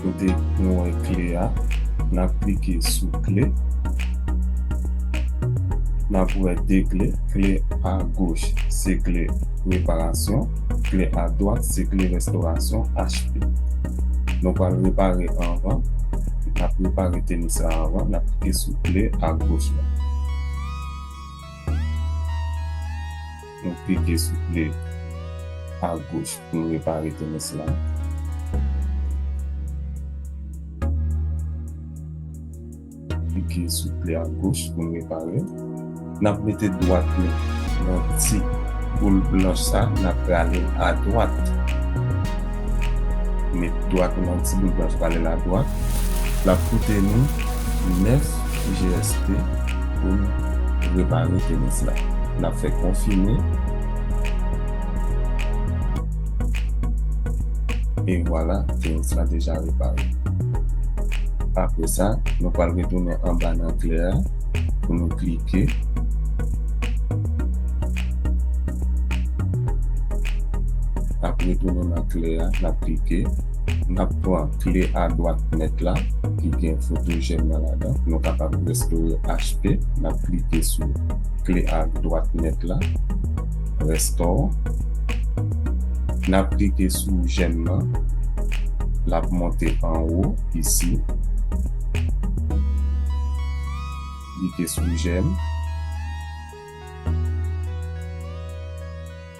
Kote nou wè kle a, nap klike sou kle. Nap wè 2 kle, kle a goch se kle reparasyon, kle a dwat se kle restorasyon HP. Nou pral repare anvan, nap repare tenis la anvan, nap klike sou kle a goch la. Nou pige souple a goch poun repare tennis la. Pige souple a goch poun repare. Nap mete dwat nou nan ti boul blanch sa nap rale l a dwat. Met dwat nou nan ti boul blanch rale l a dwat. Lap koute nou 9. GST pou n repare penis la. N ap fè konfime. E vwala, penis la deja repare. Apre sa, nou pral retounen anba nan kle a pou nou klike. N ap retounen nan kle a, n ap klike. Nap pran kle a dwat net la ki gen foto jèn nan ladan nou kapab restore HP nap klike sou kle a dwat net la restore nap klike sou jèn nan lap monte anwo isi klike sou jèn.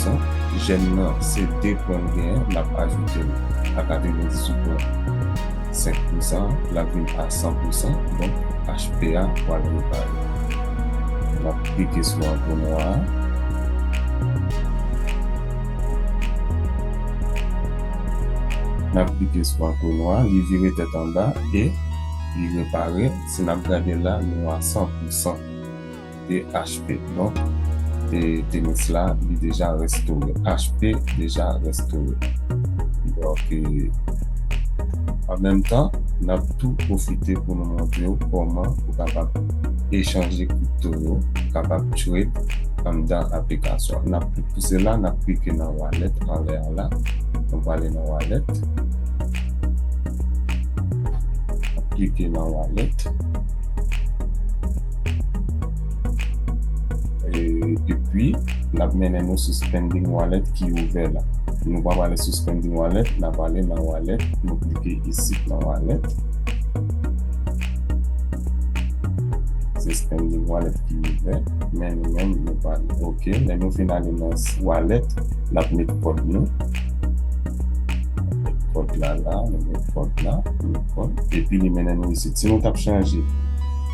sant jèn nan se 2 pwen l gen an nap ajoute l a 98.5 pousan an lap vin a 100 pousan donk HP a pwal repare nap klike sou antre nwa a nap klike sou antre nwa a li vire tèt anba e li repare si nap gade la nou a 100 pousan. e HP donk e tenis la li deja restore HP deja restore donk e an menm tan nap tou pwofite pou nou montre ou kòman ou kapab echanje kripto yo kapab trade anndan aplikasyon nap tou pou sela nap klike nan wallet anlè a la nou pwale nan wallet nap klike nan wallet. Epi, l ap mennen nou sou Spending Wallet ki ouvè la. Nou pa prale sou Spending Wallet, n ap ale nan Wallet. Nou klike isit nan Wallet. Se Spending Wallet ki ouvè. Men nou menm, nou prale ok. Lè nou fin ale nan Wallet, l ap met kòd nou. Kòd la la. Nou met kòd la. Epi, li mennen nou isit. Si nou t ap chanje.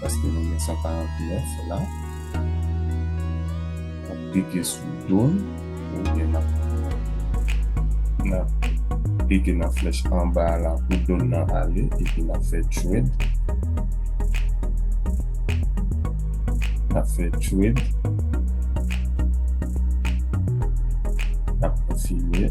Paske nou gen 149 la. Nap klike sou do l. Oubyen nap klike nan flèch anba a la pou do l lan ale. Epi nap fè trade. Nap fè trade. Nap konfime.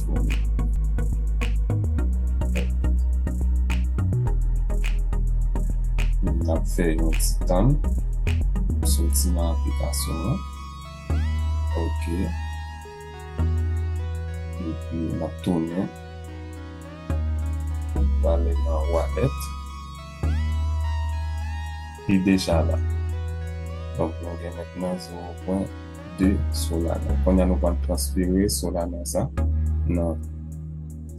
Nap fè yon ti tann pou soti nan aplikasyon an ok epi nap tounen prale nan wallet li deja la donk nou gen mentnan 0. de Solana. Kounye a nou pral transfere Solana sa nan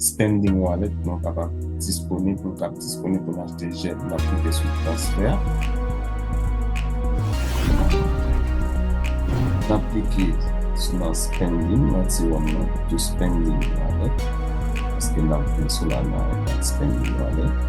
Standing Wallet nou kapab disponib pou kap disponib pou achte jen. Nap klike sou transfer. Nap klike sou nan Standing nan ti wòm nan to Standing Wallet. Paske nap gen Solana nan Standing Wallet.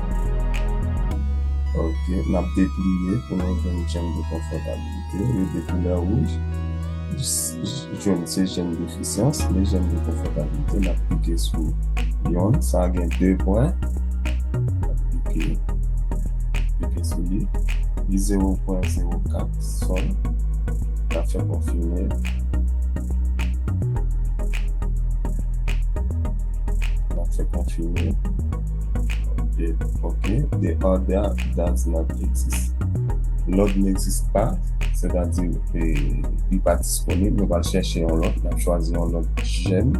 Ok, n ap depliye pou nou jwenn jenn de konfòtabilite, rete koulè wouj, jenn se jenn defisyans, men jenn de konfòtabilite, n ap klike sou yon, sa a gen 2 pwen, ok, klike sou li, li 0.04 son, n ap fè konfime, n ap fè konfime. Ok, the order does not exist. Lòd n'existe pas, sètadi li pa disponib. Nou pral chèche yon lòt, nou chwazi yon lòt jèm.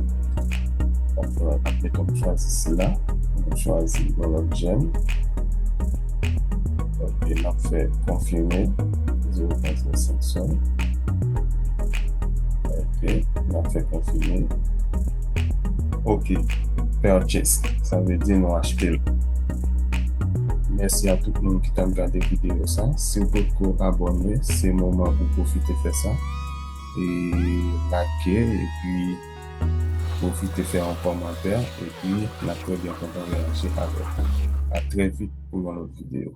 Meton nou chwazi sila, nou chwazi yon lòt jèm. Ok, nou fè konfime, 0.5 son. Ok, nou fè konfime. Ok, purchase, sa vle di nou achte l. Mèsi a tout moun ki t ap gade videyo sa. Si w potko abòne, se moman pou w pwofite fè sa. E like, epi pwofite fè yon kòmantè, epi n ap trè byen kontan reyaji avèk ou. A trè vit pou yon lòt videyo.